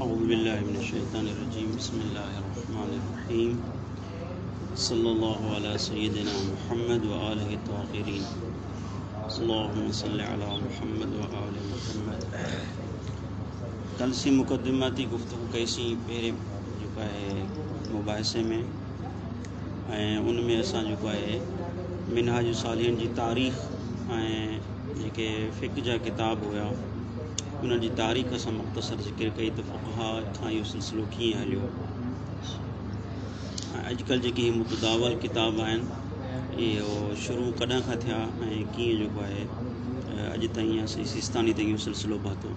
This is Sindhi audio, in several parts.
اعوذ بالله من الشيطان الرجيم بسم الله الرحمن الرحيم صلي الله على سيدنا محمد وآله الطاهرين اللهم صل على محمد وآل محمد کل سي مقدماتي گفتگو ڪئي سي پهرين جيڪا آهي مباحثي ۾ ۽ ان ۾ اسان جيڪو آهي منهاج الصالحين جي تاريخ ۽ جيڪي فقه جا ڪتاب هيا انهن جي تاريخ اسان مختصر ذڪر ڪئي ته فقها کان اهو سلسلو ڪيئن هليو ۽ اڄڪلهه جيڪي هي متداول ڪتاب آهن اهو شروع ڪڏهن کان ٿيا ۽ ڪيئن جيڪو آهي اڄ تائين سيستاني تائين اهو سلسلو پاتو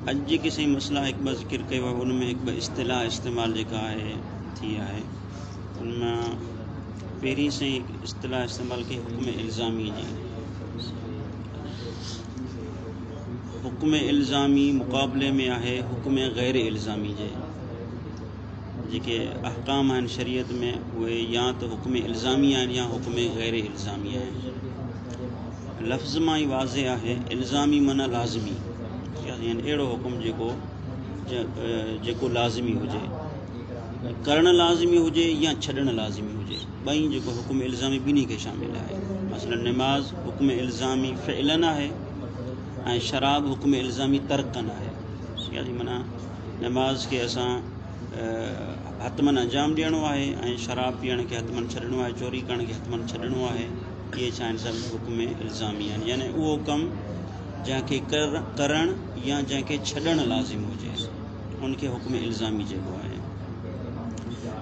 اڄ جيڪي سائين مسئلا هڪ ٻه ذڪر ڪيو آهي ان ۾ هڪ ٻه اصطلاح استعمال جيڪا آهي ٿي آهي ان مان پهرين سائين اصطلاح استعمال ڪئي حڪم الزامي جي حڪم الزامي مقابلي ۾ آهي حڪم غير الزامي جي جيڪي احڪام آهن شريعت ۾ اهي يا ته حڪم الزامي آهن يا حڪم غير الزامي آهن لفظ مان ئي واضح آهي الزامي معنيٰ لازمي يعني اهڙو حڪم جيڪو جيڪو لازمي هجي ڪرڻ لازمي هجي يا ڇڏڻ لازمي هجي ٻئي جيڪو حڪم الزامي ٻنهي کي شامل آهي مثلا نماز حڪم الزامي فعلن آهي ۽ شراب حڪم الزامي ترڪن آهي يعني معنيٰ نماز کي اسان حتمن انجام ڏيڻو آهي ۽ شراب پيئڻ کي حتمن ڇڏڻو آهي چوري ڪرڻ کي حتمن ڇڏڻو آهي اهي چاهن ٿا ته حڪم الزامي يعني يعني اهو ڪم جنهن کي ڪرڻ يا جنهن کي ڇڏڻ لازم هجي ان کي حڪم الزامي چئبو آهي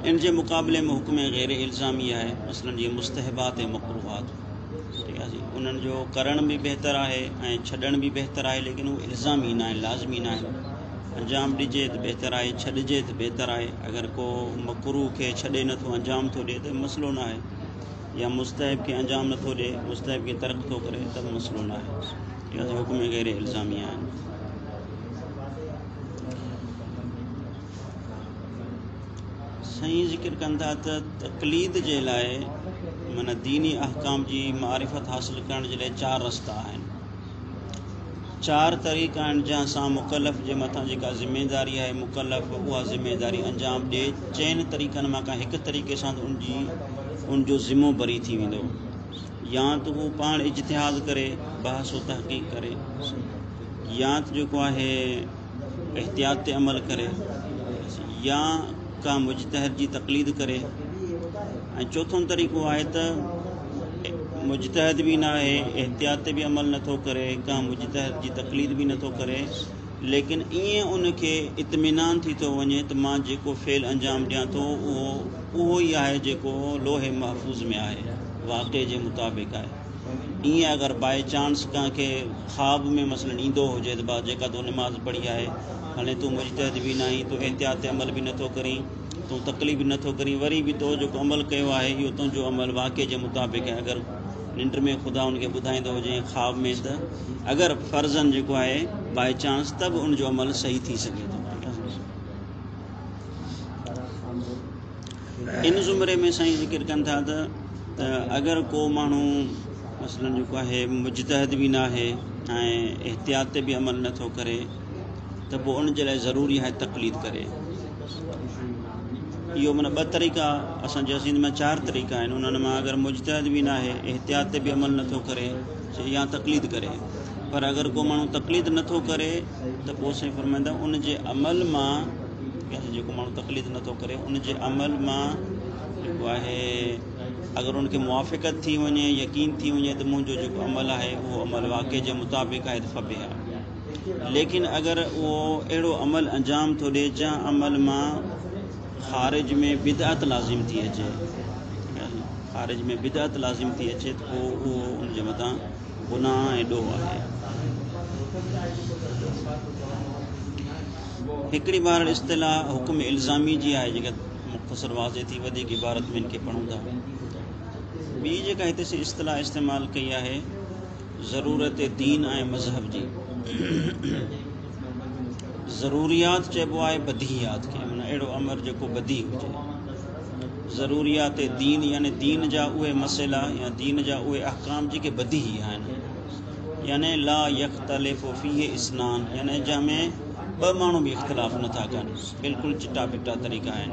ان جي مقابلي ۾ حڪم غير الزامي آهي مثلاً جيئن مستحبات ۽ مقروحات ٺيڪ آهي جي انهن جو ڪرڻ به بهتر آهي ۽ ڇڏڻ به بهتر آهي ليڪن هو الزامي نه آهن لازمي نه آهن انجام ڏجي ته بهتر آهي ڇڏجي ته بهتر آهي اگر ڪو مقروح کي ڇڏي نٿو انجام ٿو ڏئي ته مسئلو نه آهي يا مستحب کي انجام نٿو ڏئي مستحب کي ترڪ ٿو ڪري ته مسئلو نه آهي اهي ته حڪم غير الزامي آهن سائين ذڪر ڪن ٿا ته تقليد جي لاء معنی ديني احڪام جي معرفت حاصل ڪرڻ جي لاء چار رستا آهن چار طريقا آهن جنهن سان مڪلف جي مٿان جيڪا ذميواري آهي مڪلف اها ذميواري انجام ڏئي چئن طريقن مان ڪنهن هڪ طريقي سان ته ان جي ان جو ذمو بري ٿي ويندو يا ته هو پاڻ اجتهاد ڪري بحث و تحقيق ڪري يا ته جيڪو آهي احتياط تي عمل ڪري يا ڪنهن مجتهد جي تقليد ڪري ۽ چوٿون طريقو آهي ته مجتهد به نه آهي احتياط تي به عمل نٿو ڪري ڪنهن مجتهد جي تقليد به نٿو ڪري ليڪن ائين ان کي اطمينان ٿي ٿو وڃي ته مان جيڪو فعل انجام ڏيان ٿو اهو اهو ئي آهي جيڪو لوح محفوظ ۾ آهي واقعي جي مطابق آهي ائين اگر باء چانس ڪنهن کي خواب ۾ مثلاً ايندو هجي ته با جيڪا تون نماز پڙهي آهي هلين تون مجتهد به ناهين تون احتياط تي عمل به نٿو ڪرين تون تڪليف به نٿو ڪرين وري به تو جيڪو عمل ڪيو آهي اهو تنهنجو عمل واقعي جي مطابق آهي اگر ننڊ ۾ خدا ان کي ٻڌائيندو هجي خواب ۾ ته اگر فرضن جيڪو آهي باء چانس ته به ان جو عمل صحيح ٿي سگهي ٿو ان زمري ۾ سائين ذڪر ڪن ٿا ته ته اگر ڪو ماڻهو مثلا جيڪو آهي مجتهد به نه آهي ۽ احتياط تي به عمل نٿو ڪري ته پوء ان جي لاء ضروري آهي تقليد ڪري اهو مانا ٻه طريقا اسان جي سنڌ ۾ چار طريقا آهن انهن مان اگر مجتهد به نه آهي احتياط تي به عمل نٿو ڪري يا تقليد ڪري پر اگر ڪو ماڻهو تقليد نٿو ڪري ته پوء سائين فرمائندا ان جي عمل مان جيڪو ماڻهو تقليد نه ٿو ڪري ان جي عمل مان جيڪو آهي اگر ان کي موافقت ٿي وڃي يقين ٿي وڃي ته منهنجو جيڪو عمل آهي اهو عمل واقع جي مطابق آهي ته فبه آهي ليڪن اگر اهو اهڙو عمل انجام ٿو ڏي جنهن عمل مان خارج ۾ بدعت لازم ٿي اچي خارج ۾ بدعت لازم ٿي اچي ته پوء اهو ان جي مٿان گناهه ۽ ڏوهه آهي هڪڙي بار اصطلاح حڪم الزامي جي آهي جيڪا مختصر واضح ٿي وڌيڪ عبارت ۾ ان کي پڙهون ٿا ٻي جيڪا هتي سي اصطلاح استعمال ڪئي آهي ضرورت دين ۽ مذهب جي ضروريات چئبو آهي بديهيات کي معنی اهڙو امر جيڪو بدي هجي ضروريات دين يعني دين جا اهي مسئلا يا دين جا اهي احڪام جيڪي بديهي آهن يعني لا يختلف فيه اثنان يعني جنهن ۾ ٻه ماڻهو به اختلاف نٿا ڪن بلڪل چٽا بٽا طريقا آهن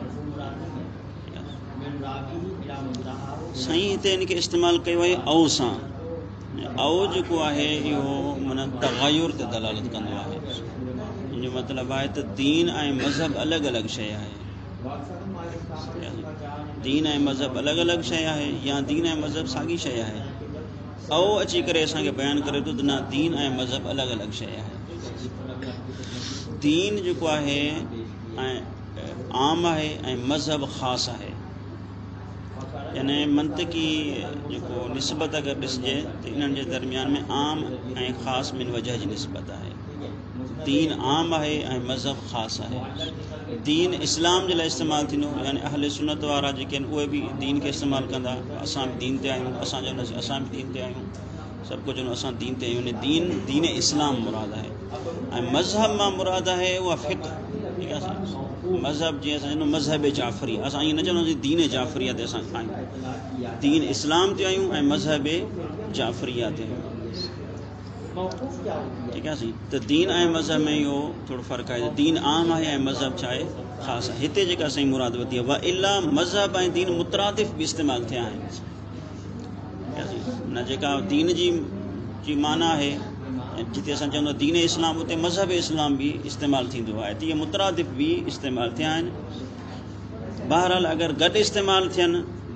سائين هتي ان کي استعمال ڪيو آهي او سان او جيڪو آهي اهو من تغير تي دلالت ڪندو آهي ان جو مطلب آهي ته دين ۽ مذهب الڳ الڳ شيء آهي دين ۽ مذهب الڳ الڳ شيء آهي يا دين ۽ مذهب ساڳي شيء آهي اهو اچي ڪري اسان کي بيان ڪري ٿو ته نه دين ۽ مذهب الڳ الڳ شيء آهي دين جيڪو آهي عام آهي ۽ مذهب خاص آهي يعني منطقي جيڪو نسبت اگر ڏسجي ته انهن جي درميان ۾ عام ۽ خاص من وجه جي نسبت آهي دين عام آهي ۽ مذهب خاص آهي دين اسلام جي لاء استعمال ٿيندو يعني اهل سنت وارا جيڪي آهن اهي به دين کي استعمال ڪندا اسان به دين تي آهيون اسان جو اسان به دين تي آهيون سڀ ڪجهه اسان دين تي آهيون دين دين اسلام مراد آهي ۽ مذهب مان مراد آهي اها فقه ٺيڪ آهي مذهب جي اسان جو مذهب جعفري اسان ائين نه چونداسين دين جعفري تي اسان آهيون دين اسلام تي آهيون ۽ مذهب جعفري تي آهيون موقوف ڪيا هئا. ٺيڪ آهي سائين ته دين ۽ مذهب ۾ اهو ٿورو فرق آهي ته دين عام آهي ۽ مذهب ڇا آهي خاص آهي هتي جيڪا سائين مراد وتي آهي والا مذهب ۽ دين مترادف به استعمال ٿيا آهن ٺيڪ آهي سائين نه جيڪا دين جي جي معنی آهي جتي اسان چون ٿا دين اسلام اتي مذهب اسلام به استعمال ٿيندو آهي ته اهي مترادف به استعمال ٿيا آهن بهرحال اگر گڏ استعمال ٿين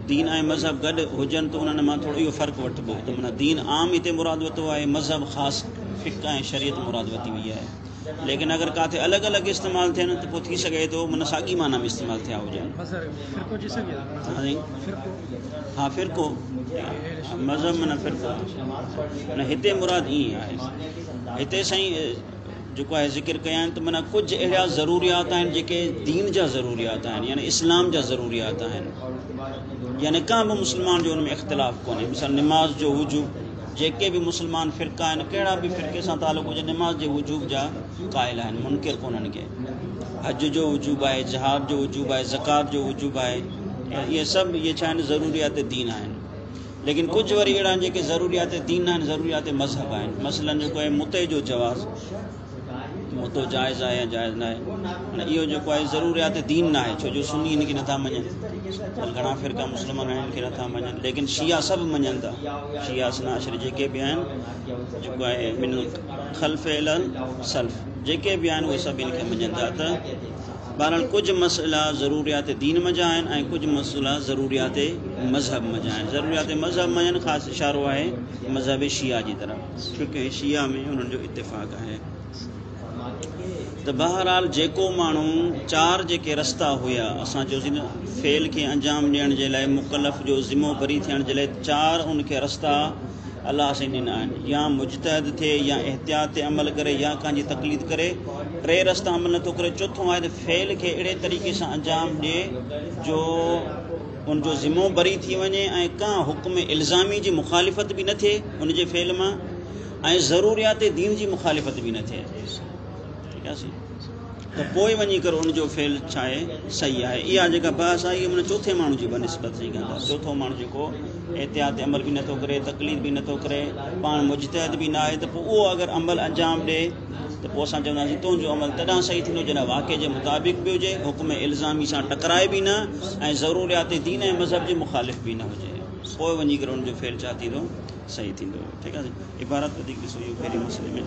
دين ۽ مذهب گڏ هجن ته انهن مان ٿورو اهو فرق وٺبو ته منا دين عام هتي مراد وتو آهي مذهب خاص فقه ۽ شريعت مراد وتي وئي آهي ليڪن اگر ڪاٿي الگ الگ استعمال ٿين ته پوء ٿي سگهي ٿو من ساڳي معنی ۾ استعمال ٿيا هجن ها فرقو مذهب من فرقو هتي مراد ائين آهي هتي سائين جيڪو آء ذڪر ڪيا آهن ته معنيٰ ڪجهه اهڙا ضروريات آهن جيڪي دين جا ضروريات آهن يعني اسلام جا ضروريات آهن يعني ڪا به مسلمان جو ان ۾ اختلاف ڪونهي مثال نماز جو وجوب جيڪي به مسلمان فرقا آهن ڪهڙا به فرقي سان تعلق هجي نماز جي وجوب جا قائل آهن منڪر ڪونهن ڪي حج جو وجوب آهي جهاد جو وجوب آهي زڪات جو وجوب آهي اهي سڀ اهي ڇا آهن ضروريات دين آهن ليڪن ڪجهه وري اهڙا آهن جيڪي ضروريات دين ناهن ضروريات مذهب آهن مثلا جيڪو آهي متي جو جواز متو جائز آهي يا جائز ناهي نه اهو جيڪو آهي ضروريات دين ناهي ڇو جو سني هن کي نٿا مڃن گھڻا فرقا مسلمان آهن کي نٿا مڃن ليڪن شيعا سڀ مڃن ٿا شيعا سناشر جيڪي به آهن جيڪو آهي من خلف الن سلف جيڪي به آهن اهي سڀ هن کي مڃن ٿا ته بهرحال ڪجهه مسئلا ضروريات دين منجهه آهن ۽ ڪجهه مسئلا ضروريات مذهب منجهه آهن. ضروريات مذهب منجهن خاص اشارو آهي مذهب شيعه جي طرف ڇوڪه شيعه ۾ انهن جو اتفاق آهي ته بهرحال جيڪو ماڻهو چار جيڪي رستا هيا اسان چوسين ته فعل کي انجام ڏيڻ جي لاء مڪلف جو ذمو بري ٿيڻ جي لاء چار ان کي رستا الله سائين ڏنا آهن يا مجتهد ٿئي يا احتياط تي عمل ڪري يا ڪنهن جي تقليد ڪري ٽي رستا عمل نٿو ڪري چوٿون آهي ته فعل کي اهڙي طريقي سان انجام ڏي جو ان جو ذمو بري ٿي وڃي ۽ ڪنهن حڪم الزامي جي مخالفت به نه ٿئي ان جي فعل مان ۽ ضروريات دين جي مخالفت به نه ٿئي ٺيڪ آهي سائين ته پوء وڃي ڪري ان جو فعل ڇاهي صحيح آهي اها جيڪا بحث آهي اها چوٿين ماڻهو جي بنسبت سان ڪندا چوٿون ماڻهو جيڪو احتياط عمل به نٿو ڪري تقليد به نٿو ڪري پاڻ مجتهد به ناهي ته پوء اهو اگر عمل انجام ڏي ته پوء اسان چونداسين تنهنجو عمل تڏهن صحيح ٿيندو جڏهن واقعي جي مطابق به هجي حڪم الزامي سان ٽڪرائي به نه ۽ ضروريات دين ۽ مذهب جي مخالف به نه هجي پوء وڃي ڪري ان جو فعل ڇا ٿيندو صحيح ٿيندو ٺيڪ آهي عبارت وڌيڪ ڏسو اهو پهرين مسئلي ۾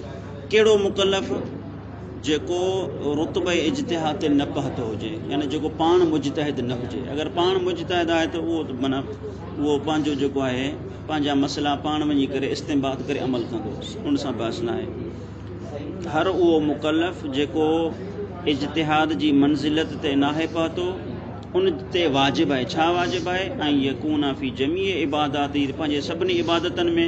ڪهڙو مڪلف جيڪو رتبه اجتهاد تي نه پهتو هجي يعني جيڪو پاڻ مجتهد نه هجي اگر پاڻ مجتهد آهي ته اهو معنی اهو پنهنجو جيڪو آهي پنهنجا مسئلا پاڻ وڃي ڪري استنباد ڪري عمل ڪندو ان سان بحث نه آهي هر اهو مڪلف جيڪو اجتهاد جي منزلت تي ناهي پهتو ان تي واجب آهي ڇا واجب آهي ۽ يڪون في جميع عبادات پنهنجي سڀني عبادتن ۾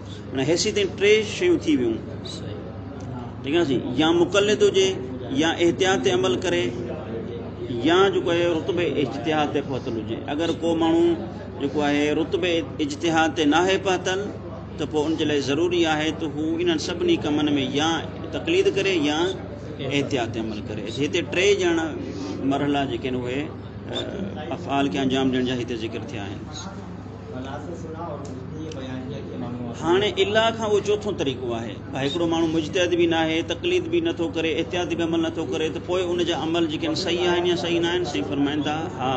هاڻي حيثيتين ٽي شيون ٿي ويون ٺيڪ آهي سائين يا مقلد هجي يا احتياط تي عمل ڪري يا جيڪو آهي رتبه اجتهاد تي پهتل هجي اگر ڪو ماڻهو جيڪو آهي رتبه اجتهاد تي ناهي پهتل ته پوء ان جي لاء ضروري آهي ته هو انهن سڀني ڪمن ۾ يا تقليد ڪري يا احتياط تي عمل ڪري هتي ٽي ڄڻ مرحلا جيڪي آهن اهي افعال کي انجام ڏيڻ جا هتي ذڪر ٿيا آهن هاڻي الا کان اهو چوٿون طريقو آهي. ڀا هڪڙو ماڻهو مجتهد به ناهي، تقليد به نٿو ڪري، احتياطي به عمل نٿو ڪري ته پوء ان جا عمل جيڪي آهن صحيح آهن يا صحيح ناهن؟ سائين فرمائن ٿا، ها!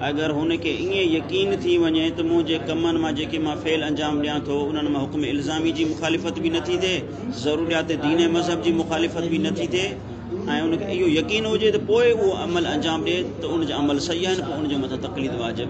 اگر هن کي ائين يقين ٿي وڃي ته منهنجي ڪمن مان جيڪي مان فعل انجام ڏيان ٿو انهن مان حڪم الزامي جي مخالفت به نٿي ٿئي، ضروريات دين ۽ مذهب جي مخالفت به نٿي ٿئي ۽ ان کي اهو يقين هجي ته پوء اهو عمل انجام ڏئي ته ان جا عمل صحيح آهن پوء ان جي مٿان تقليد واجب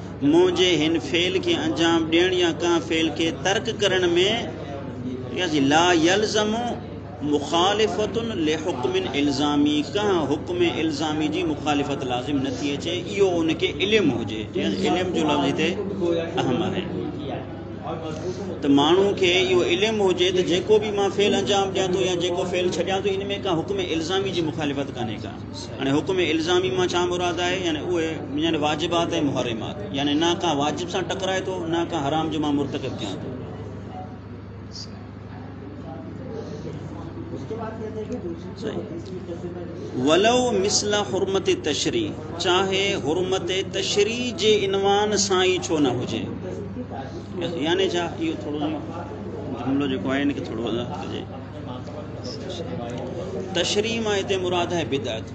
منهنجي هن فعل کي انجام ڏيڻ يا ڪنهن فعل کي ترڪ ڪرڻ ۾ لا يلزم مخالفة لحڪم الزامي ڪنهن حڪم الزامي جي مخالفت لازم نه ٿي اچي اهو ان کي علم هجي علم جو لفظ هتي اهم آهي ته ماڻهو کي اهو علم هجي ته جيڪو به مان فعل انجام ڏيان ٿو يا جيڪو فعل ڇڏيان ٿو ان ۾ ڪا حڪم الزامي جي مخالفت ڪانهي ڪا يعني حڪم الزامي مان ڇا مراد آهي يعني اهي يعني واجبات ۽ محرمات يعني نه ڪا واجب سان ٽڪرائي ٿو نه ڪا حرام جو مان مرتڪب ٿيان ٿو ولو مثل حرمت تشري چاهي حرمت تشري جي عنوان سان ئي ڇو نه هجي يعني ڇا اهو ٿورو جملو جيڪو آهي ان کي ٿورو وضاحت ڪجي تشريح مان هتي مراد آهي بدعت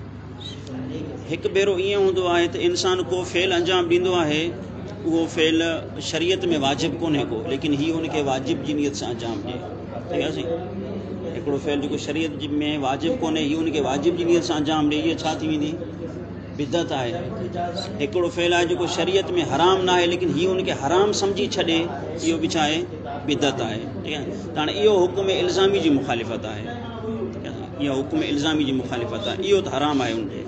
هڪ ڀيرو ائين هوندو آهي ته انسان ڪو فعل انجام ڏيندو آهي اهو فعل شريعت ۾ واجب ڪونهي ڪو ليڪن هي ان کي واجب جي نيت سان انجام ڏي ٺيڪ آهي هڪڙو فعل جيڪو شريعت جي ۾ واجب ڪونهي هي ان کي واجب جي نيت سان انجام ڏي هي ڇا ٿي ويندي بدعت آهي هڪڙو فعل آهي جيڪو شريعت ۾ حرام نه آهي ليڪن هي ان کي حرام سمجهي ڇڏي اهو به ڇا آهي بدعت آهي ٺيڪ آهي ڄڻ اهو حڪم الزامي جي مخالفت آهي اها حڪم الزامي جي مخالفت آهي اهو ته حرام آهي ان تي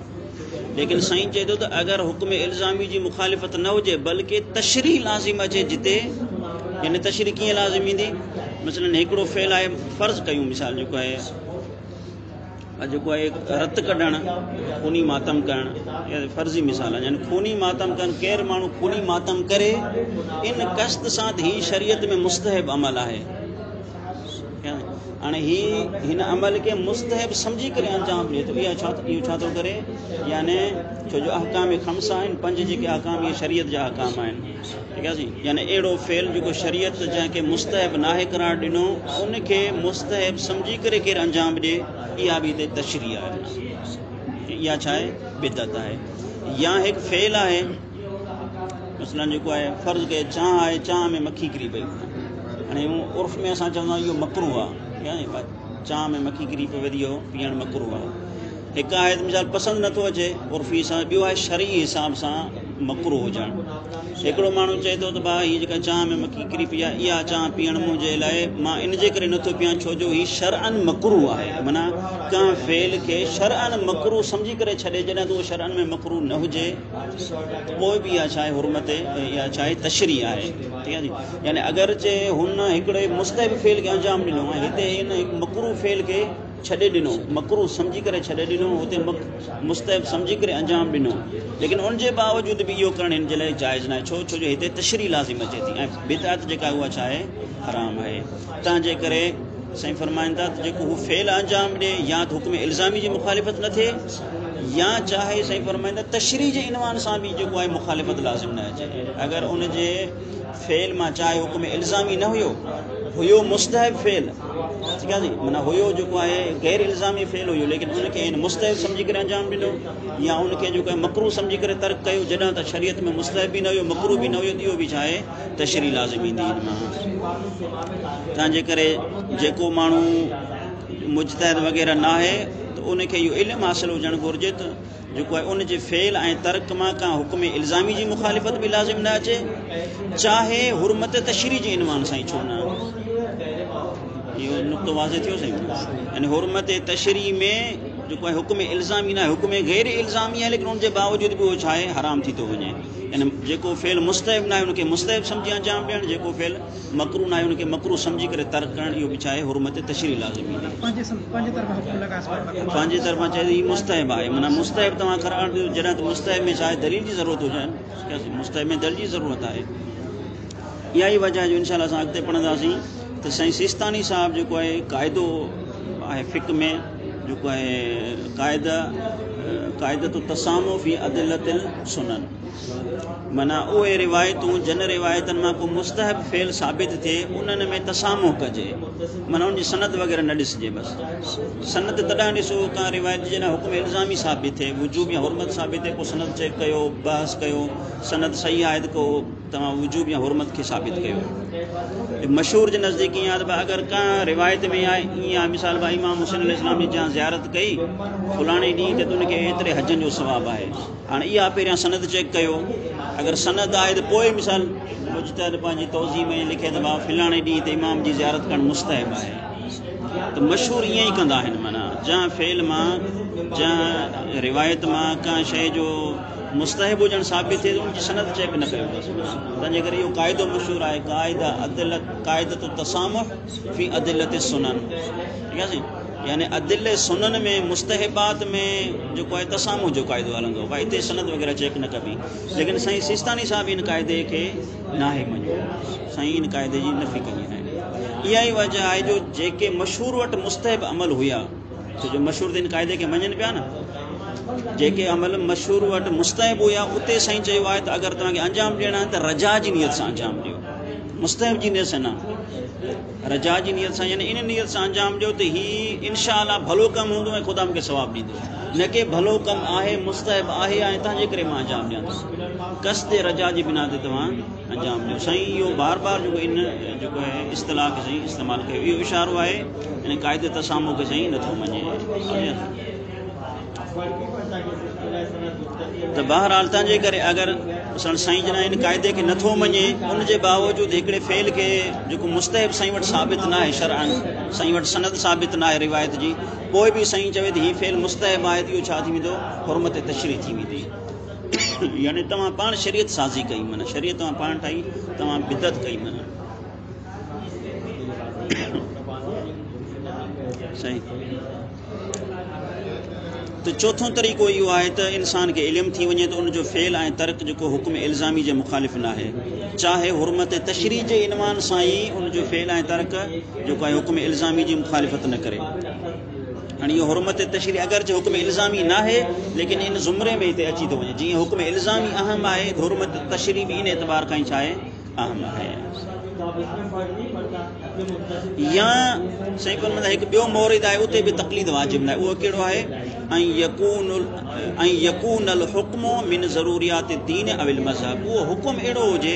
ليڪن سائين چئي ٿو ته اگر حڪم الزامي جي مخالفت نه هجي بلڪه تشريح لازم اچي جتي يعني تشريح ڪيئن لازم ايندي مثلا هڪڙو فعل آهي فرض ڪيون مثال جيڪو آهي جيڪو آهي رت ڪڍڻ، خوني ماتم ڪرڻ يا فرضي مثال آهن يعني خوني ماتم ڪرڻ ڪير ماڻهو خوني ماتم ڪري ان قصد سان ته هي شريعت ۾ مستحب عمل آهي هاڻي هي هن عمل کي مستحب سمجهي ڪري انجام ڏي ٿو اها ڇا اهو ڇا ٿو ڪري يعني ڇو جو احڪام خمسه آهن پنج جيڪي احڪام اهي شريعت جا احڪام آهن يعني اهڙو فعل جيڪو شريعت جنهن کي مستحب ناهي قرار ڏنو، ان کي مستحب سمجهي ڪري ڪير انجام ڏي، اها به هتي تشريح آهي. معنيٰ اها ڇا آهي؟ بدعت آهي. يا هڪ فعل آهي، مثلاً جيڪو آهي فرض ڪيو چانهه آهي، چانهه ۾ مکي ڪري پئي. هاڻي هو عرف ۾ اسان چوندا آهيون اهو مڪروه آهي. چانهه ۾ مکي ڪري پئي وڌي اهو پيئڻ مڪروه آهي. هڪ آهي ته مثال پسند نٿو اچي عرفي سان ٻيو آهي شرعي حساب سان مڪرو هجڻ هڪڙو ماڻهو چئي ٿو ته ڀا هي جيڪا چانهه ۾ مکي ڪري پئي آهي اها چانهه پيئڻ منهنجي لاء مان ان جي ڪري نٿو پيان ڇو جو هي شرعن مڪرو آهي منا ڪنهن فعل کي شرعن مڪرو سمجهي ڪري ڇڏي جڏهن ته اهو شرعن ۾ مڪرو نه هجي ته پوء به اها ڇا آهي حرمت اها ڇا آهي تشريح آهي ٺيڪ آهي يعني اگرچه هن هڪڙي مستحب فعل کي انجام ڏنو آهي هتي هن مڪرو فعل کي ڇڏي ڏنو، مڪروه سمجهي ڪري ڇڏي ڏنو، اتي مڪ، مستحب سمجهي ڪري انجام ڏنو، ليڪن ان جي باوجود به اهو ڪرڻ هن جي لاء جائز ناهي، ڇو؟ ڇو جو هتي تشريح لازم اچي ٿي ۽ بدعت جيڪا آهي اها ڇا آهي؟ حرام آهي، تنهن جي ڪري سائين فرمائن ٿا ته جيڪو هو فعل انجام ڏي يا ته حڪم الزامي جي مخالفت نه ٿئي يا چاهي سائين فرمائن ٿا تشريح جي عنوان سان به جيڪو آهي مخالفت لازم نه اچي اگر ان جي فعل مان چاهي حڪم الزامي نه هيو هيو مستحب فعل ٺيڪ آهي معنی هيو جيڪو آهي غير الزامي فعل هيو ليڪن ان کي ان مستحب سمجھي ڪري انجام ڏنو يا ان کي جيڪو مڪرو سمجھي ڪري ترڪ ڪيو جڏهن ته شريعت ۾ مستحب به نه هيو مڪرو به نه هيو اهو به چاهي تشري لازم ايندي ان مان تنهنجي ڪري جيڪو ماڻهو مجتهد وغيره نه آهي ته ان کي اهو علم حاصل هجڻ گهرجي ته جيڪو آهي ان جي فعل ۽ ترڪ مان ڪا حڪم الزامي جي مخالفت به لازم نه اچي چاهي حرمت تشريح جي عنوان سان ئي ڇو نه آهي اهو نقطو واضح ٿيو سائين يعني حرمت تشريح ۾ جيڪو آهي حڪم الزامي نه آهي حڪم غير الزامي آهي ليڪن ان جي باوجود به اهو ڇا آهي حرام ٿي ٿو وڃي يعني جيڪو فعل مستحب نه آهي ان کي مستحب سمجهي انجام ڏيڻ جيڪو فعل مڪروهه ناهي ان کي مڪروهه سمجهي ڪري ترڪ ڪرڻ اهو به ڇا آهي حرمت تشريع لازمي آهي. پنهنجي طرفان چئي ته هي مستحب آهي معنيٰ مستحب توهان قرار ڏيو جڏهن ته مستحب ۾ ڇا آهي دليل جي ضرورت هجڻ کپي مستحب ۾ دليل جي ضرورت آهي اها ئي وجه آهي جو انشاء الله اسان اڳتي پڙهنداسين ته سائين سيستاني صاحب جيڪو آهي قاعدو آهي فقه ۾ جيڪو آهي قاعده قاعده تو تسامو في عدلت السنن معنيٰ اهي روايتون جن روايتن مان ڪو مستحب فعل ثابت ٿئي انهن ۾ تسامح ڪجي معنيٰ ان جي سند وغيره نه ڏسجي بس سند تڏهن ڏسو ڪا روايت جنهن حڪم الزامي ثابت ٿئي وجوب يا حرمت ثابت ٿئي پوء سند چيڪ ڪيو بحث ڪيو سند صحيح آهي ته ڪو توهان وجوب يا حرمت کي ثابت ڪيو مشهور جي نزديڪ ائين آهي ته اگر ڪا روايت ۾ آهي ائين آهي مثال امام حسين عليه السلام جي جان زيارت ڪئي فلاڻي ڏينهن تي ته ان کي ايتري حجن جو ثواب آهي هاڻ اها پهريان سند چيڪ ڪيو اگر سند آهي ته پوء مثال مجتهد پنهنجي توضيح ۾ لکي ته مان فلاڻي ڏينهن تي امام جي زيارت ڪرڻ مستحب آهي ته مشهور ائين ئي ڪندا آهن معنيٰ جنهن فعل مان جنهن روايت مان ڪنهن شيء جو مستحب هجڻ ثابت ٿئي ته ان جي سند چيڪ نه ڪيو ويندو تنهنجي ڪري اهو قاعدو مشهور آهي قاعده عدلت قاعده التسامح في عدلت السنن ٺيڪ آهي سائين يعني ادله سنن ۾ مستحبات ۾ جيڪو آهي تسامح جو قاعدو هلندو آهي هتي سند وغيره چيڪ نه ڪبي ليڪن سائين سيستاني صاحب ان قاعدي کي ناهي مڃيو سائين ان قاعدي جي نفي ڪئي آهي اها ئي وجه آهي جو جيڪي مشهور وٽ مستحب عمل هيا ڇو جو مشهور تن قاعدي کي مڃن پيا نه جيڪي عمل مشهور وٽ مستحب هيا اتي سائين چيو آهي ته اگر توهان کي انجام ڏيڻا آهن ته رجا جي نيت سان انجام ڏيو مستحب جي نيت سان نه رجاء جي نيت سان يعني ان نيت سان انجام ڏيو ته هي ان شاء الله ڀلو ڪم هوندو ۽ خدا مونکي ثواب ڏيندو نه ڪي ڀلو ڪم آهي مستحب آهي يعني تنهنجي ڪري مان انجام ڏيان ٿو قصد رجاء جي بنا تي توهان انجام ڏيو سائين اهو بار بار جيڪو ان جيڪو آهي اصطلاح کي سائين استعمال ڪيو اهو اشارو آهي ان قاعدي تسامو کي سائين نٿو مڃي ته بهرحال تنهن جي ڪري اگر سڻ سائين جڏهن ان قاعدي کي نٿو مڃي ان جي باوجود هڪڙي فعل کي جيڪو مستحب سائين وٽ ثابت ناهي شرعن سائين وٽ سند ثابت ناهي روايت جي پوء به سائين چوي ته هي فعل مستحب آهي ته اهو ڇا ٿي ويندو حرمت تشريح ٿي ويندي يعني توهان پاڻ شريعت سازي ڪئي من شريعت توهان پاڻ ٺاهي توهان بدعت ڪئي من صحيح ته چوٿون طريقو اهو آهي ته انسان کي علم ٿي وڃي ته ان جو فعل ۽ ترڪ جيڪو حڪم الزامي جي مخالف ناهي چاهي حرمت تشريح جي عنوان سان ئي ان جو فعل ۽ ترڪ جيڪو آهي حڪم الزامي جي مخالفت نه ڪري هاڻي اهو حرمت تشريح اگرچه حڪم الزامي ناهي ليڪن ان زمري ۾ هتي اچي ٿو وڃي جيئن حڪم الزامي اهم آهي ته حرمت تشريح به ان اعتبار کان ئي ڇا آهي اهم آهي يا سائين پر مطلب هڪ ٻيو مورد آهي اتي به تقليد واجب نه اهو ڪهڙو آهي ۽ يڪون ۽ يڪون الحكم من ضروريات الدين او المذهب اهو حڪم اهڙو هجي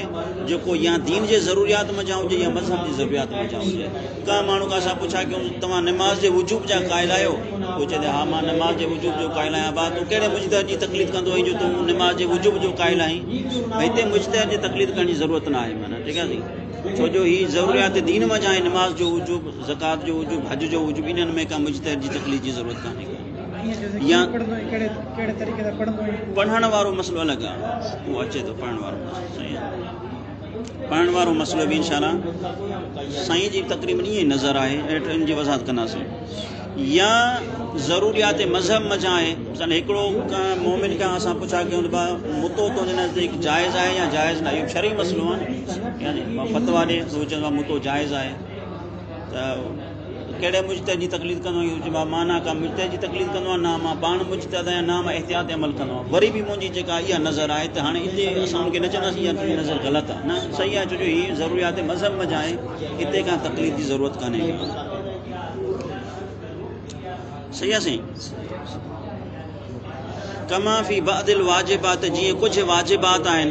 جيڪو يا دين جي ضروريات منجهان هجي يا مذهب جي ضروريات منجهان هجي ڪنهن ماڻهو کان اسان پڇا ڪيون ته توهان نماز جي وجوب جا قائل آهيو؟ هو چئي ٿي ها مان نماز جي وجوب جو قائل آهيان ڀاء تون ڪهڙي مجتهد جي تقليد ڪندو آهين جو تون نماز جي وجوب جو قائل آهين هتي مجتهد جي تقليد ڪرڻ جي ضرورت نه آهي معنيٰ ٺيڪ آهي سائين ڇو جو هي ضروريات دين منجهان آهن نماز جو وجوب زڪات جو وجوب حج جو وجوب انهن ۾ ڪا مجتهد جي تقليد جي ضرورت ڪانهي ڪا يا پڙهڻ وارو مسئلو الڳ آهي اهو اچي ٿو پڙهڻ وارو مسئلو سائين پائڻ وارو مسئلو به انشاء الله سائين جي تقريب ۾ ائين نظر آهي هيٺ ان جي وضاحت ڪنداسين يا ضروريات مذهب مجا آهي مثلا هڪڙو مومن کان اسان پڇا ڪيون ته متو تو جن نزديڪ جائز آهي يا جائز نه اهو شرعي مسئلو آهي يعني فتوا ڏي تو چون متو جائز آهي ته ڪهڙي مجتهد جي تقليد ڪندو آهين؟ جي مان نه ڪا مجتهد جي تقليد ڪندو آهيان، نه مان پاڻ مجتهد آهيان، نه مان احتياط عمل ڪندو آهيان. وري به منهنجي جيڪا اها نظر آهي ته هاڻي اتي اسان ان کي نه چونداسين يار تنهنجي نظر غلط آهي، نه صحيح آهي ڇو جو هي ضروريات مذهب ۾ جا آهي اتي ڪا تقليد جي ضرورت ڪانهي ڪا. صحيح آهي سائين. ڪما في بعض الواجبات جيئن ڪجهه واجبات آهن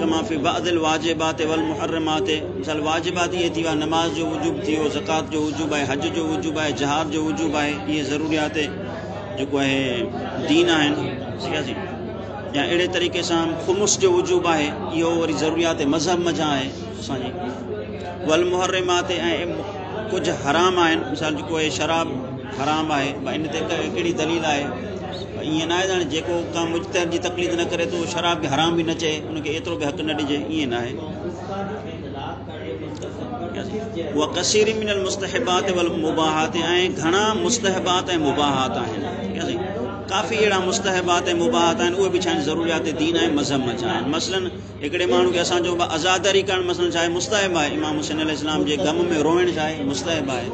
ڪما في بعض الواجبات والمحرمات مثال واجبات اهي ٿي ويا نماز جو وجوب ٿي ويو زڪات جو وجوب آهي حج جو وجوب آهي جهاد جو وجوب آهي اهي ضروريات جيڪو آهي دين آهن ٺيڪ آهي يا اهڙي طريقي سان خمس جو وجوب آهي اهو وري ضروريات مذهب منجهان آهي اسان جي والمحرمات ۽ ڪجهه حرام آهن مثال جيڪو آهي شراب حرام آهي ڀلا ان تي ڪهڙي دليل آهي ڀلا ائين ناهي ته هاڻي جيڪو ڪنهن مجتهد جي تقليد نه ڪري ته اهو شراب کي حرام به نه چئي ان کي ايترو به حق نه ڏجي ائين ناهي وڪثير من المستحبات والمباحات ۽ گهڻا مستحبات ۽ مباحات آهن ڪافي اهڙا مستحبات ۽ مباحات آهن اهي به ڇا آهن ضروريات دين آهن مذهب مان ڇا آهن مثلا هڪڙي ماڻهو کي اسان چئون ڀا عزاداري ڪرڻ مثلا ڇا آهي مستحب آهي امام حسين عليه السلام جي غم ۾ روئڻ ڇا آهي مستحب آهي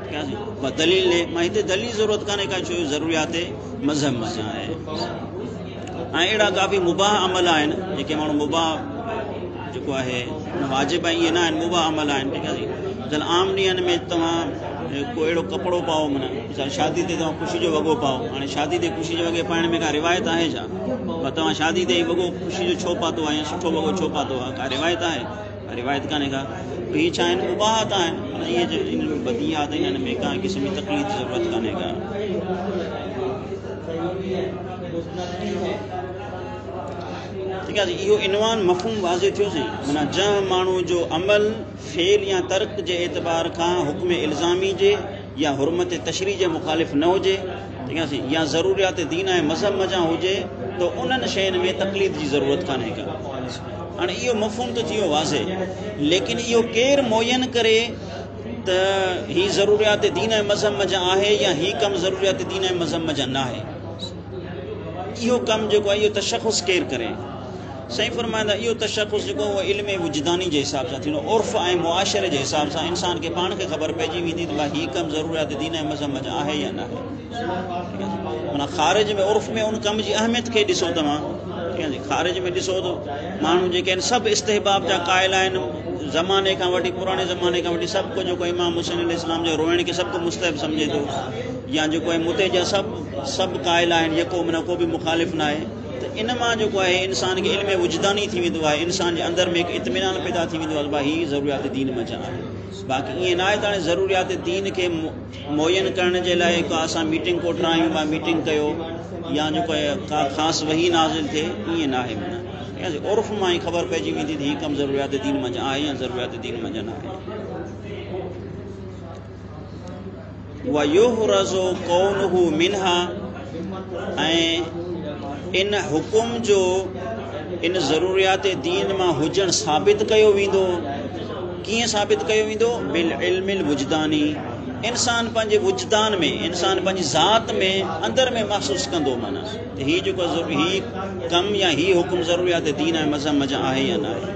ڪيا سي ڀا دليل ڏي مان هتي دليل ضرورت ڪانهي ڪا ڇو ضروريات مذهب مان سان آهي ۽ اهڙا ڪافي مباح عمل آهن جيڪي ماڻهو مباح جيڪو آهي واجب ائين نه آهن مباح عمل آهن ٺيڪ آهي جن عام ڏينهن ۾ توهان ڪو اهڙو ڪپڙو پاؤ منا شادي تي توهان خوشي جو وڳو پاؤ هاڻي شادي تي خوشي جو وڳي پائڻ ۾ ڪا روايت آهي ڇا پر توهان شادي تي هي وڳو خوشي جو ڇو پاتو آهي يا سٺو وڳو ڇو پاتو آهي ڪا روايت آهي ڪا روايت ڪانهي ڪا هي ڇا آهن مباحات آهن مطلب هي جو ان ۾ بديهات آهن ان ۾ ڪا قسم جي تقليد جي ضرورت ڪانهي ڪا ٺيڪ آهي اهو عنوان مفهوم واضح ٿيو سين منا جنهن ماڻهو جو عمل فعل يا ترڪ جي اعتبار کان حڪم الزامي جي يا حرمت تشريح جي مخالف نه هجي يا ضروريات دين ۽ مذهب منجهان هجي ته انهن شين ۾ تقليد جي ضرورت ڪانهي ڪا. هاڻي اهو مفهوم ته ٿيو واضح ليڪن اهو ڪير معين ڪري ته هي ضروريات دين ۽ مذهب منجهان آهي يا هي ڪم ضروريات دين ۽ مذهب منجهان ناهي. اهو ڪم جيڪو آهي اهو تشخص ڪير ڪري. سائين فرمائن ٿا اهو تشخص جيڪو اهو علم وجداني جي حساب سان ٿيندو عرف ۽ معاشري جي حساب سان انسان کي پاڻ کي خبر پئجي ويندي ته ڀاء هي ڪم ضروريات دين ۽ مذهب منجهان آهي يا نه آهي معنی خارج ۾ عرف ۾ ان ڪم جي اهميت کي ڏسو توهان ٺيڪ آهي خارج ۾ ڏسو ته ماڻهو جيڪي آهن سڀ استحباب جا قائل آهن زماني کان وٺي پراڻي زماني کان وٺي سڀ ڪو جيڪو امام حسين علي اسلام جو روئڻ کي سڀ ڪو مستحب سمجهي ٿو يا جيڪو متي جا سڀ سڀ قائل آهن جيڪو معنی ڪو به مخالف نه آهي ته ان مان جيڪو آهي انسان کي علم وجداني ٿي ويندو آهي انسان جي اندر ۾ هڪ اطمينان پيدا ٿي ويندو آهي هي ضروريات دين منجهان آهي باقي ائين نه آهي ته هاڻي ضروريات دين کي معين ڪرڻ جي لاء ڪا اسان ميٽنگ ڪوٺرايون ڪا ميٽنگ ڪيو يا جيڪو ڪا خاص وهي نازل ٿئي ائين نه آهي معنی عرف مان ئي خبر پئجي ويندي ته هي ڪم ضروريات دين منجهان آهي يا ضروريات دين منجهان آهي ويحرز ڪونه منها ۽ ان حڪم جو ان ضروريات دين مان هجڻ ثابت ڪيو ويندو ڪيئن ثابت ڪيو ويندو بالعلم الوجداني انسان پنهنجي وجدان ۾ انسان پنهنجي ذات ۾ اندر ۾ محسوس ڪندو معنی ته هي جيڪو هي ڪم يا هي حڪم ضروريات دين ۽ مذهب مجا آهي يا نه آهي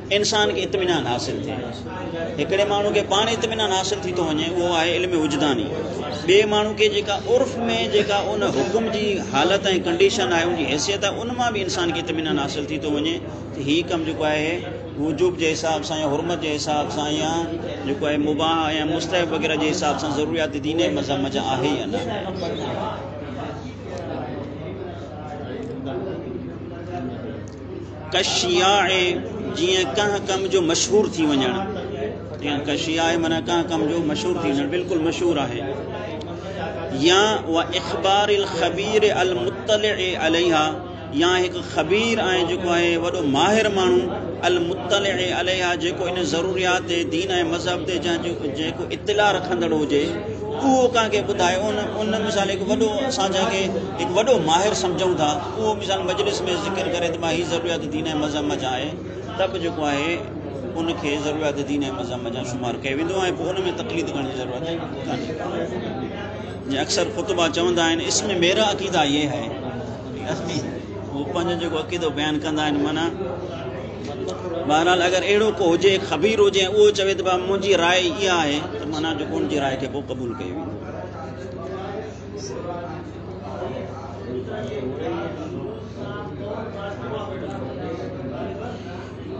انسان کي اطمينان حاصل ٿئي. هڪڙي ماڻهو کي پاڻ اطمينان حاصل ٿي ٿو وڃي اهو آهي علم وجداني. ٻئي ماڻهو کي جيڪا عرف ۾ جيڪا ان حڪم جي حالت ۽ ڪنڊيشن آهي ان جي حيثيت آهي ان مان به انسان کي اطمينان حاصل ٿي ٿو وڃي ته هي ڪم جيڪو آهي وجوب جي حساب سان يا حرمت جي حساب سان يا جيڪو آهي مباح يا مستحب وغيره جي حساب سان ضروريات دين ۽ مذهب جا آهي يا نه. ڪشياء، جيئن ڪنهن ڪم جو مشهور ٿي وڃڻ، جيئن ڪشياء معنيٰ ڪنهن ڪم جو مشهور ٿي وڃڻ، بلڪل مشهور آهي. يا و اخبار الخبير المطلع عليها، يا هڪ خبير ۽ جيڪو آهي وڏو ماهر ماڻهو المطلع عليها جيڪو ان ضروريات تي دين ۽ مذهب تي جا جيڪو اطلاع رکندڙ هجي اهو ڪنهن کي ٻڌائي ان ان مثال هڪ وڏو اسان جنهن کي هڪ وڏو ماهر سمجهون ٿا اهو مثال مجلس ۾ ذڪر ڪري ته مان هي ضروريات دين ۽ مذهب جا آهي تب جيڪو آهي ان کي ضروريات دين ۽ مذهب جا شمار ڪيو ويندو آهي پوء ان ۾ تقليد ڪرڻ جي ضرورت ڪانهي جيئن اڪثر خطبا چوندا آهن اس ۾ ميرا عقيده يه هي هو پنهنجو جيڪو عقيدو بيان ڪندا آهن معنی بهرحال اگر اهڙو کو هجي خبير هجي ۽ اهو چوي ته منهنجي راء اها آهي ته معنی جيڪو ان جي راء کي پوء قبول ڪيو ويندو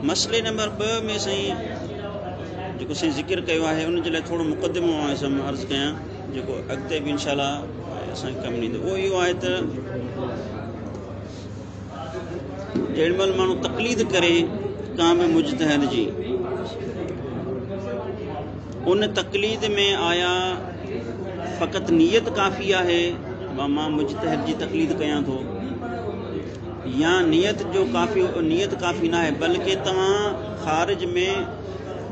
مسئلي نمبر ٻه ۾ سائين جيڪو سائين ذڪر ڪيو آهي ان جي لاء ٿورو مقدمو آئي سم عرض ڪيان جيڪو اڳتي به انشاءالله اسان کي ڪم ڏيندو اهو اهو آهي ته جيڏي مهل ماڻهو تقليد ڪري ڪنهن به مجتهد جي ان تقليد ۾ آيا فقط نيت ڪافي آهي مان مجتهد جي تقليد ڪيان ٿو يا نيت جو ڪافي نيت ڪافي نه آهي بلڪه توهان خارج ۾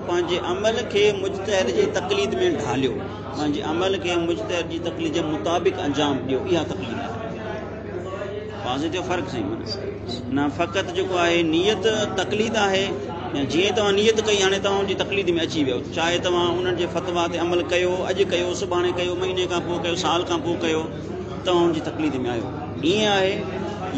پنهنجي عمل کي مجتهد جي تقليد ۾ ڍاليو پنهنجي عمل کي مجتهد جي تقليد جي مطابق انجام ڏيو اها تقليد آهي واضح ٿيو فرق سائين نه فقط جيڪو آهي نيت تقليد آهي جيئن توهان نيت ڪئي هاڻي توهان جي تقليد ۾ اچي ويو چاهي توهان انهن جي فتوا تي عمل ڪيو اڄ ڪيو سڀاڻي ڪيو مهيني کان پوء ڪيو سال کان پوء ڪيو توهان جي تقليد ۾ آيو ائين آهي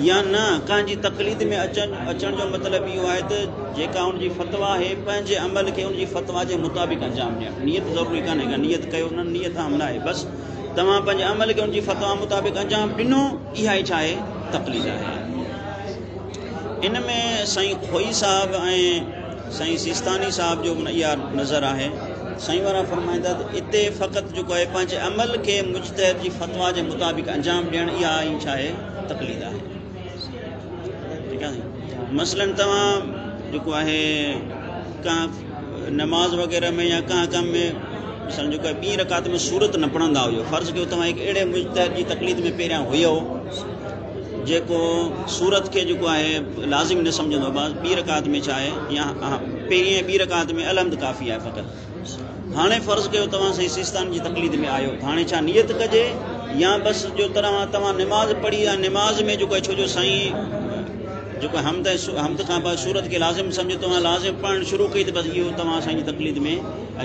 يا نه ڪنهن جي تقليد ۾ اچن اچڻ جو مطلب اهو آهي ته جيڪا ان جي فتوا آهي پنهنجي عمل کي ان جي فتوا جي مطابق انجام ڏيڻ نيت ضروري ڪانهي نيت ڪيو نه نيت اهم نه آهي بس توهان پنهنجي عمل کي ان جي فتويٰ مطابق انجام ڏنو، اها ئي ڇاهي تقليد آهي. ان ۾ سائين خوئي صاحب ۽ سائين سيستاني صاحب جو به اها نظر آهي. سائين وارا فرمائين ٿا ته اتي فقط جيڪو آهي پنهنجي عمل کي مجتهد جي فتويٰ جي مطابق انجام ڏيڻ اها ئي ڇاهي تقليد آهي. مثلاً توهان جيڪو آهي ڪانه نماز وغيره ۾ يا ڪانه ڪم ۾ مثلاً جيڪو ٻي رڪعت ۾ سورت نه پڙهندا هجو فرض ڪيو توهان هڪ اهڙي مجتهد جي تقليد ۾ پهريان هيو جيڪو سورت کي جيڪو آهي لازم نه سمجهندو ٻي رڪعت ۾ چاهي يا پهرين ٻي رڪعت ۾ الحمد ڪافي آهي فقط هاڻي فرض ڪيو توهان سائين سيستان جي تقليد ۾ آيو ته هاڻي ڇا نيت ڪجي يا بس جو طرح توهان نماز پڙهي يا نماز ۾ جيڪو ڇو جو سائين جيڪو حمد حمد کان بعد صورت کي لازم سمجهي توهان لازم پڙهڻ شروع ڪئي ته بس اهو توهان سائين جي تقليد ۾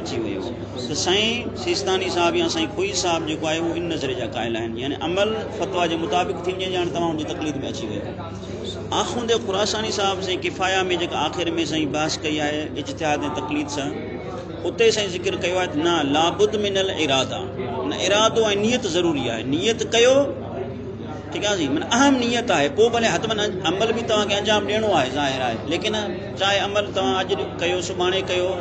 اچي ويو ته سائين سيستاني صاحب يا سائين خوئي صاحب جيڪو آهي اهو ان نظري جا قائل آهن يعني عمل فتويٰ جي مطابق ٿي وڃي ڄاڻ توهان ان جي تقليد ۾ اچي ويو آخوند خراساني صاحب سائين ڪفايه ۾ جيڪا آخر ۾ سائين بحث ڪئي آهي اجتهاد ۽ تقليد سان اتي سائين ذڪر ڪيو آهي نه لابد من الاراده نه ارادو ۽ نيت ضروري آهي نيت ڪيو ٺيڪ آهي سائين من اهم نيت آهي پوء ڀلي حتمن عمل به توهان کي انجام ڏيڻو آهي ظاهر آهي ليڪن چاهي عمل توهان اڄ ڪيو سڀاڻي ڪيو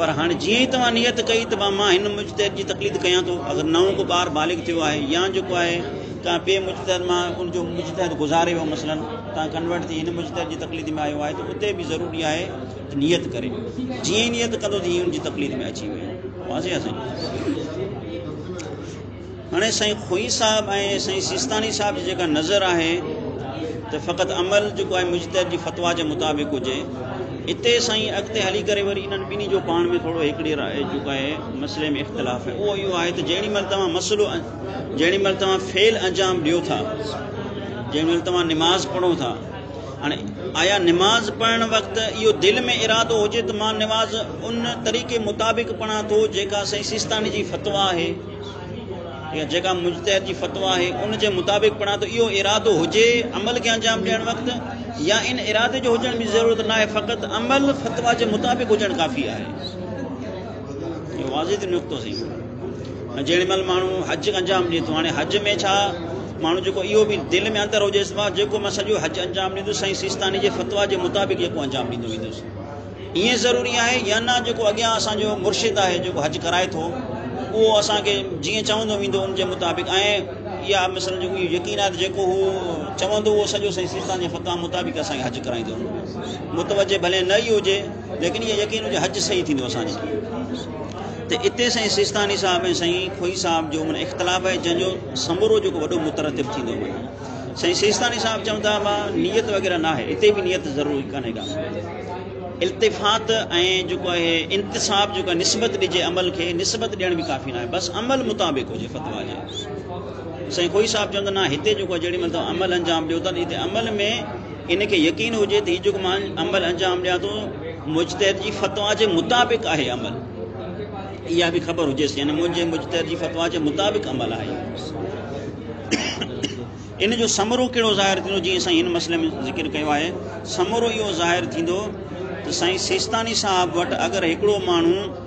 پر هاڻي جيئن ئي توهان نيت ڪئي ته مان هن مجتهد جي تقليد ڪيان ٿو اگر نئون ڪو ٻار بالغ ٿيو آهي يا جيڪو آهي ڪنهن ٻئي مجتهد مان ان جو مجتهد گذاري ويو مثلا تان ڪنورٽ ٿي هن مجتهد جي تقليد ۾ آيو آهي ته اتي به ضروري آهي ته نيت ڪري جيئن ئي نيت ڪندو ته ان جي تقليد ۾ اچي ويو واضح آهي سائين هاڻي سائين خوئي صاحب ۽ سائين سيستاني صاحب جي جيڪا نظر آهي ته فقط عمل جيڪو آهي مجتهد جي فتوا جي مطابق هجي اتي سائين اڳتي هلي ڪري وري انهن ٻنهي جو پاڻ ۾ ٿورو هڪڙي راء جيڪو آهي مسئلي ۾ اختلاف آهي اهو اهو آهي ته جيڏي مهل توهان مسئلو جهڙي مهل توهان فعل انجام ڏيو ٿا جهڙي مهل توهان نماز پڙهو ٿا هاڻي آيا نماز پڙهڻ وقت اهو دل ۾ ارادو هجي ته مان نماز ان طريقي مطابق پڙهان ٿو جيڪا سائين سيستاني جي فتوا آهي يا جيڪا مجتهد جي فتوا آهي ان جي مطابق پڙهان ته اهو ارادو هجي عمل کي انجام ڏيڻ وقت يا ان ارادي جو هجڻ جي ضرورت نه آهي فقط عمل فتوا جي مطابق هجڻ ڪافي آهي واضح نقطو سين جيڏي مھل ماڻھو حج انجام ڏئي ٿو ھاڻي حج ۾ ڇا ماڻھو جيڪو اھو به دل ۾ اندر ھجيس ته مان جيڪو مان سڄو حج انجام ڏيندس سائين سيستاني جي فتويٰ جي مطابق جيڪو انجام ڏيندو ويندس ائين ضروري آھي يا نه جيڪو اڳيان اسان جو مرشد آھي جيڪو حج ڪرائي ٿو اھو اسان کي جيئن چوندو ويندو ان جي مطابق ۽ اها مثلا جو يقين آھي جيڪو هو چوندو اهو سڄو سائين سيستان جي فتويٰ مطابق اسان کي حج ڪرائيندو متوجه ڀلي نه ئي هجي ليڪن اهو يقين هجي حج صحيح ٿيندو اسان جي ته اتي سائين سيستاني صاحب ۽ سائين کوئي صاحب جو من اختلاف آهي جنهن جو سمورو جيڪو وڏو مترتب ٿيندو وڃي سائين سيستاني صاحب چون ٿا مان نيت وغيره ناهي اتي به نيت ضروري ڪانهي ڪا التفات ۽ جيڪو آهي انتصاب جيڪو نسبت ڏجي عمل کي نسبت ڏيڻ به ڪافي ناهي بس عمل مطابق هجي فتوا جي سائين کوئي صاحب چون ٿا نه هتي جيڪو جهڙي مطلب عمل انجام ڏيو ٿا هتي عمل ۾ ان کي يقين هجي ته هي جيڪو مان عمل انجام ڏيان ٿو مجتهد جي فتوا جي مطابق آهي عمل اها به خبر هجيس يعني منهنجي مجتهد جي فتوا جي مطابق عمل آهي ان جو ثمرو کيڙو ظاهر ٿيندو جي سائين ان مسئلي ۾ ذڪر ڪيو آهي ثمرو اهو ظاهر ٿيندو ته سائين سيستاني صاحب وٽ اگر هڪڙو ماڻهو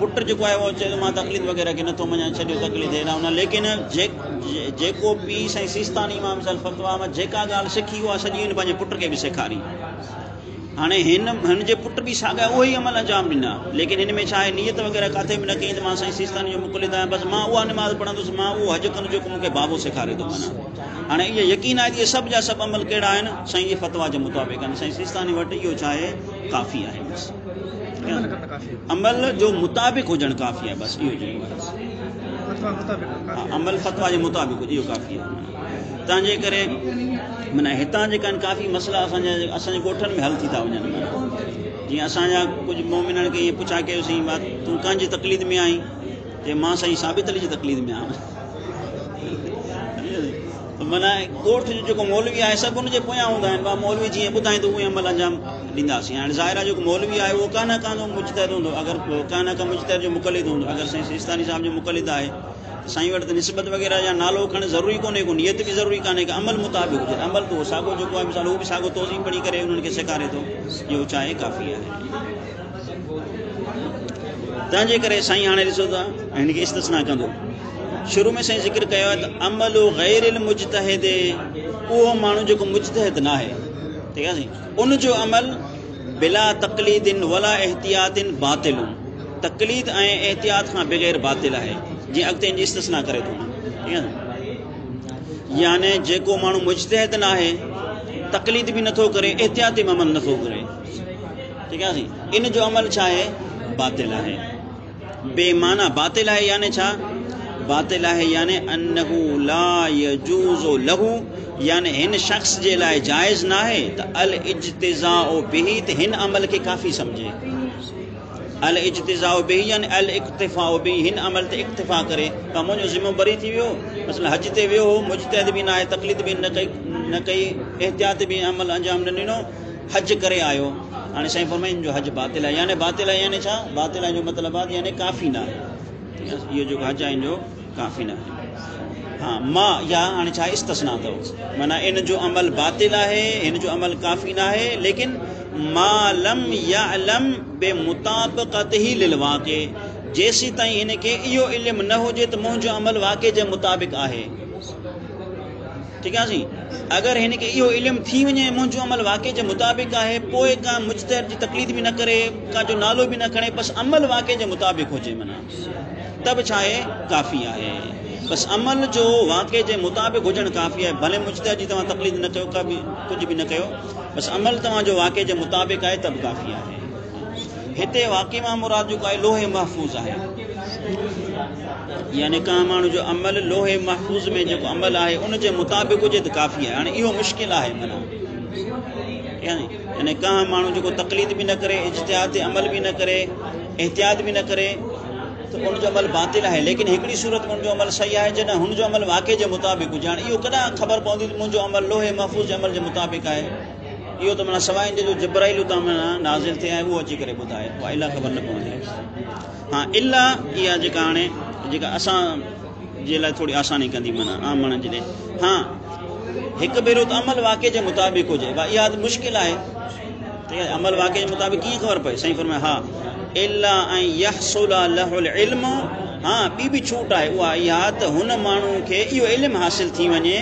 پٽ جيڪو آهي اهو چيو ته مان تقليد وغيره کي نٿو مڃان ڇڏيو تقليد هيڏانهن هوڏانهن ليڪن جيڪو پيء سائين سيستاني امام صاحب فتويٰ مان جيڪا ڳالهه سکي اها سڄي هن پنهنجي پٽ کي به سيکاري هاڻي هن هن جي پٽ به ساڳيا اهي ئي عمل انجام ڏنا ليڪن هن ۾ ڇا آهي نيت وغيره ڪاٿي به نه ڪئي ته مان سائين سيستاني جو مقلد آهيان بس مان اها نماز پڙهندس مان اهو حج ڪندس جيڪو مون کي بابو سيکاري ٿو منا هاڻي اهو يقين آهي ته اهي سڀ جا سڀ عمل ڪهڙا آهن سائين جي فتويٰ جي مطابق آهن سائين سيستاني وٽ اهو ڇا آهي ڪافي آهي بس عمل جو مطابق هجڻ ڪافي آهي بس اهو چئبو آهي عمل فتوا جي مطابق هجي اهو ڪافي آهي تنهنجي ڪري معنی هتان جيڪا آهن ڪافي مسئلا اسانجا اسانجي ڳوٺن ۾ حل ٿي ٿا وڃن جيئن اسانجا ڪجهه مومنن کي ائين پڇا ڪيوسين تون ڪنهن جي تقليد ۾ آهين چي مان سائين ثابت علي جي تقليد ۾ آهيان معنيٰ ڳوٺ جو جيڪو مولوي آهي سڀ ان جي پويان هوندا آهن ڀا مولوي جيئن ٻڌائيندو اهو ئي عمل انجام ڏينداسين هاڻي ظاهر آهي جيڪو مولوي آهي اهو ڪا نه ڪا جو مجتهد هوندو اگر ڪا نه ڪا مجتهد جو مقلد هوندو اگر سائين سيستاني صاحب جو مقلد آهي ته سائين وٽ ته نسبت وغيره يا نالو کڻ ضروري ڪونهي ڪو نيت به ضروري ڪانهي ڪا عمل مطابق هجي عمل ته ساڳو جيڪو آهي مثال هو به ساڳو توضيح پڙهي ڪري انهن کي سيکاري ٿو اهو چاهي ڪافي آهي تنهن جي ڪري سائين هاڻي ڏسو ته هن کي استثنا ڪندو شروع ۾ سائين ذڪر ڪيو آهي ته عمل غير المجتهد اهو ماڻهو جيڪو مجتهد نه آهي ٺيڪ آهي ان جو عمل بلا تقليد ولا احتياط باطل تقليد ۽ احتياط کان بغير باطل آهي جي اڳتي ان جي استثنا ڪري ٿو ٺيڪ آهي يعني جيڪو ماڻهو مجتهد نه آهي تقليد به نٿو ڪري احتياط به عمل نٿو ڪري ان جو عمل ڇا آهي؟ باطل آهي. بي معنيٰ باطل آهي يعني ڇا؟ باطل آهي يعني انه لا يجوز له يعني هن شخص جي لاء جائز ناهي ته الاجتزاء به ته هن عمل کي ڪافي سمجهي. الاجتزاء به يعني الاقتفاء به هن عمل تي اقتفاء ڪري ته منهنجو ذمو بري ٿي ويو مثلا حج تي ويو هو مجتهد به ناهي تقليد به نه ڪئي احتياط به عمل انجام نه ڏنو حج ڪري آيو هاڻي سائين فرمائن جو حج باطل آهي يعني باطل آهي يعني ڇا باطل آهي جو مطلب آهي يعني ڪافي نه آهي اهو جو حج آهن جو ڪافي نه آهي ها ما يا هاڻي ڇا استثنا اٿو معنی ان جو عمل باطل آهي ان جو عمل ڪافي نه آهي ليڪن ما لم يعلم بمطابقته للواقع جيسي تائين ان کي اهو علم نه هجي ته منهنجو عمل واقع جي مطابق آهي ٺيڪ آهي سائين اگر هن کي اهو علم ٿي وڃي ۽ منهنجو عمل واقعي جي مطابق آهي پوء ڪا مجتهد جي تقليد به نه ڪري ڪا جو نالو به نه کڻي بس عمل واقعي جي مطابق هجي معنيٰ ته به ڇا آهي ڪافي آهي بس عمل جو واقعي جي مطابق هجڻ ڪافي آهي ڀلي مجتهد جي توهان تقليد نه ڪيو ڪا به ڪجهه به نه ڪيو بس عمل توهان جو واقعي جي مطابق آهي ته به ڪافي آهي هتي واقعي مان مراد جيڪو آهي لوح محفوظ آهي يعني ڪنهن ماڻهو جو عمل لوح محفوظ ۾ جيڪو عمل آهي ان جي مطابق هجي ته ڪافي آهي هاڻي اهو مشڪل آهي منا يعني يعني ڪنهن ماڻهو جيڪو تقليد به نه ڪري اجتهاد تي عمل به نه ڪري احتياط به نه ڪري ته ان جو عمل باطل آهي ليڪن هڪڙي صورت ۾ ان جو عمل صحيح آهي جڏهن هن جو عمل واقعي جي مطابق هجي هاڻي اهو ڪڏهن خبر پوندي ته منهنجو عمل لوح محفوظ جي عمل جي مطابق آهي اهو ته معنيٰ سواء ان جي جو جبرائيل اتان معنيٰ نازل ٿئي ۽ اهو اچي ڪري ٻڌائي الا خبر نه پوندي ها الا اها جيڪا هاڻي جيڪا اسان جي لاء ٿوري آساني ڪندي معنيٰ عام ماڻهن جي لاء ها هڪ ڀيرو ته عمل واقع جي مطابق هجي وا اها ته مشڪل آهي ته عمل واقع جي مطابق ڪيئن خبر پئي سائين فرمائي ها الا ان يحصل له العلم ها ٻي به ڇوٽ آهي اها اها ته هن ماڻهو کي اهو علم حاصل ٿي وڃي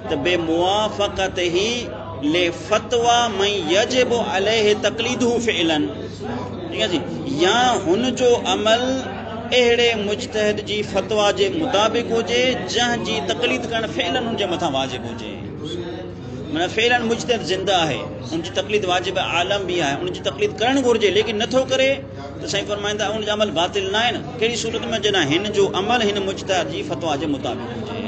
ته بموافقته لفتويٰ من يجب عليه تقليده فعلا يا هن جو عمل اهڙي مجتهد جي فتويٰ جي مطابق هجي جنهن جي تقليد ڪرڻ فعلا ان جي مٿان واجب هجي معنيٰ فعلا مجتهد زنده آهي ان جي تقليد واجب عالم به آهي ان جي تقليد ڪرڻ گهرجي ليڪن نٿو ڪري ته سائين فرمائن ٿا ان جو عمل باطل ناهي نه ڪهڙي صورت ۾ جڏهن هن جو عمل هن مجتهد جي فتويٰ جي مطابق هجي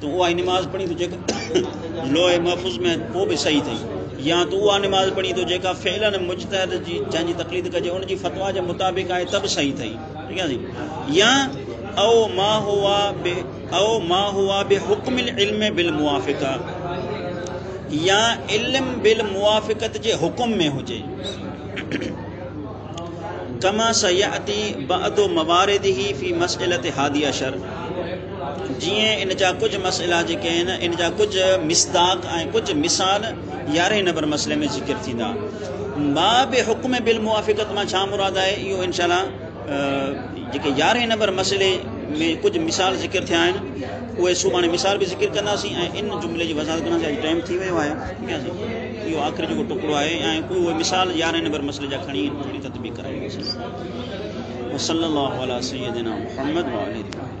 تون اها ئي نماز پڙهين ٿو جيڪا لوح محفوظ ۾ ڪو به صحيح اٿئي يا تون اها نماز پڙهين ٿو جيڪا فعلا مجتهد جي جنهن جي تقليد ڪجي ان جي فتوا جي مطابق آهي ته به صحيح اٿئي ٺيڪ آهي سائين يا او ما هوا به او ما هوا به حڪم العلم بالموافقه يا علم بالموافقت جي حڪم ۾ هجي ڪما سياتي بعد مواردهي في مسئلة هادي عشر جيئن ان جا ڪجهه مسئلا جيڪي آهن ان جا ڪجهه مصداق ۽ ڪجهه مثال يارهين نمبر مسئلي ۾ ذڪر ٿيندا ما به حڪم بالموافقت مان ڇا مراد آهي اهو ان شاء الله جيڪي يارهين نمبر مسئلي ۾ ڪجهه مثال ذڪر ٿيا آهن اهي سڀاڻي مثال به ذڪر ڪنداسين ۽ ان جملي جي وضاحت ڪنداسين ٽائم ٿي ويو آهي اهو آخر جيڪو ٽڪڙو آهي ۽ اهو اهي مثال يارهين نمبر مسئلي جا کڻي ان پوري تطبيق ڪرائي وئي سيد وصلي الله علي سيدنا محمد وعلي الله